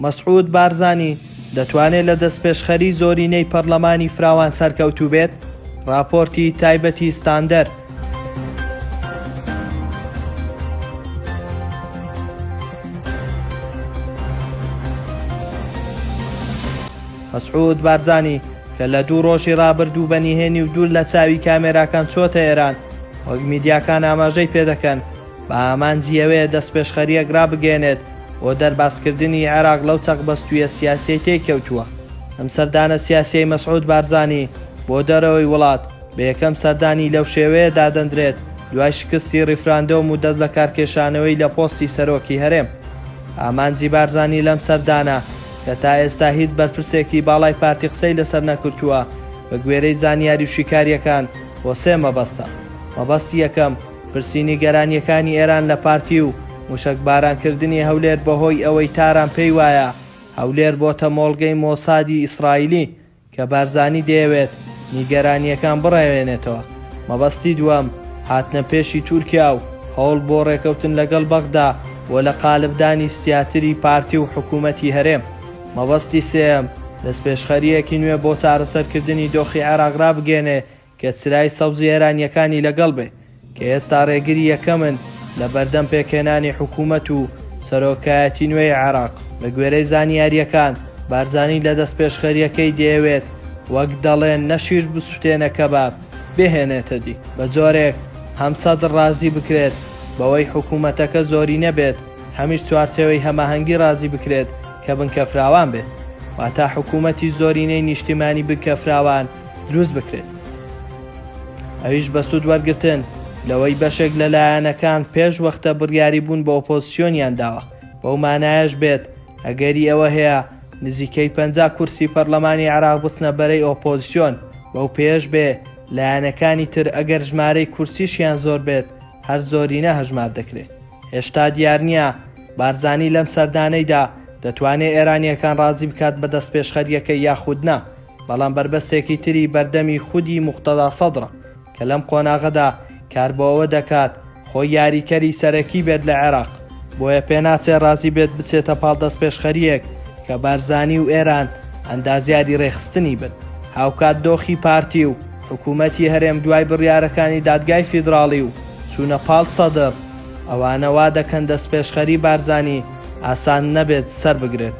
مەسعود بارزانی دەتوانێت لە دەستپێشخەری زۆرینەی پەرلەمانی فراوان سەرکەوتوو بێت راپۆرتی تایبەتی ستاندەر مەسعود بارزانی کە لە دوو ڕۆژی ڕابردوو بە نیهێنی و دوور لە چاوی کامێراکان چۆتە ئێران، وەک میدیاکان ئاماژەی پێدەکەن بە ئامانجی ئەوەیە دەستپێشخەرییەک ڕابگەیەنێت بۆ دەربازکردنی عێراق لەو چەقبەستوویە سیاسیەی تێی کەوتووە. ئەم سەردانە سیاسیەی مەسعود بارزانی بۆ دەرەوەی وڵات، بە یەکەم سەردانی لەو شێوەیە دادەندرێت دوای شکستی ڕیفراندۆم و دەست لەکارکێشانەوەی لە پۆستی سەرۆکی هەرێم. ئامانجی بارزانی لەم سەردانە، کە تا ئێستا هیچ بەرپرسێکتی باڵای پارتی قسەی لەسەر نەکرتووە، بە گوێرەی زانیاری و شیکارییەکان بۆ سێ مەبەستە. مەبەستی یەکەم، پرسی نیگەرانییەکانی ئێران لە پارتی و موشەکباران کردنی هەولێر بەهۆی ئەوەی تاران پێی وایە هەولێر بۆتە مۆڵگەی مۆسادی ئیسرائیلی کە بارزانی دەیەوێت نیگەرانییەکان بڕەوێنێتەوە، مەبەستی دووەم هاتنە پێشی تورکیا و هەوڵ بۆ ڕێکەوتن لەگەڵ بەغدا بۆ لە قالبدانی سیاتری پارتی و حکوومەتی هەرێم، مەبەستی سێیەم دەستپێشخەرییەکی نوێ بۆ چارەسەرکردنی دۆخی عێراق ڕابگەیەنێ کە چرای سەوزی ئێرانییەکانی لەگەڵ بێ کە ئێستا ڕێگری یەکەمن لە بەردەم پێکهێنانی حکوومەت و سەرۆکایەتی نوێی عێراق. بە گوێرەی زانیارییەکان، بارزانی لە دەستپێشخەرییەکەی دەیەوێت وەک دەڵێن نە شیر بسووتێنە کەباب بێهێنێتە دی، بە جۆرێک هەم سەدر ڕازی بکرێت بەوەی حکوومەتەکە زۆرینە بێت، هەمیش چوارچێوەی هەماهەنگی ڕازی بکرێت کە بنکەفراوان بێت، واتە حکوومەتی زۆرینەی نیشتیمانی بنکەفراوان. دروست بکرێت ئەویش بە سوود وەرگتن لەوەی بەشێک لە لایەنەکان پێش وەختە بڕیاری بوون بە ئۆپۆزسیۆنیان داوە بەو مانایش بێت ئەگەری ئەوە هەیە نزیکەی پ کورسی پەرلەمانی عراق بچنە بەرەی ئۆپۆزسیۆن بەو پێش بێ لایەنەکانی تر ئەگەر ژمارەی کورسیشیان زۆر بێت هەر زۆرینە هەژمار دەکرێت هێشتا دیار نییە بارزانی لەم سەردانەیدا دەتوانێت ئێرانیەکان ڕازی بکات بە دەست پێشخەریەکە یاخودنا بەڵام بەربەستێکی تری بەردەمی خودی موقتەدا سەدرە کە لەم قۆناغەدا کار بۆ ئەوە دەکات خۆی یاریکەری سەرەکی بێت لە عێراق، بۆیە پێناچێ رازی بێت بچێتە پاڵ دەستپێشخەرییەک کە بارزانی و ئێران ئەندازیاری رێکخستنی بن. هاوکات دۆخی پارتی و حکوومەتی هەرێم دوای بڕیارەکانی دادگای فیدراڵی و چوونە پاڵ سەدر، ئەوانە وا دەکەن دەستپێشخەری بارزانی ئاسان نەبێت سەربگرێت.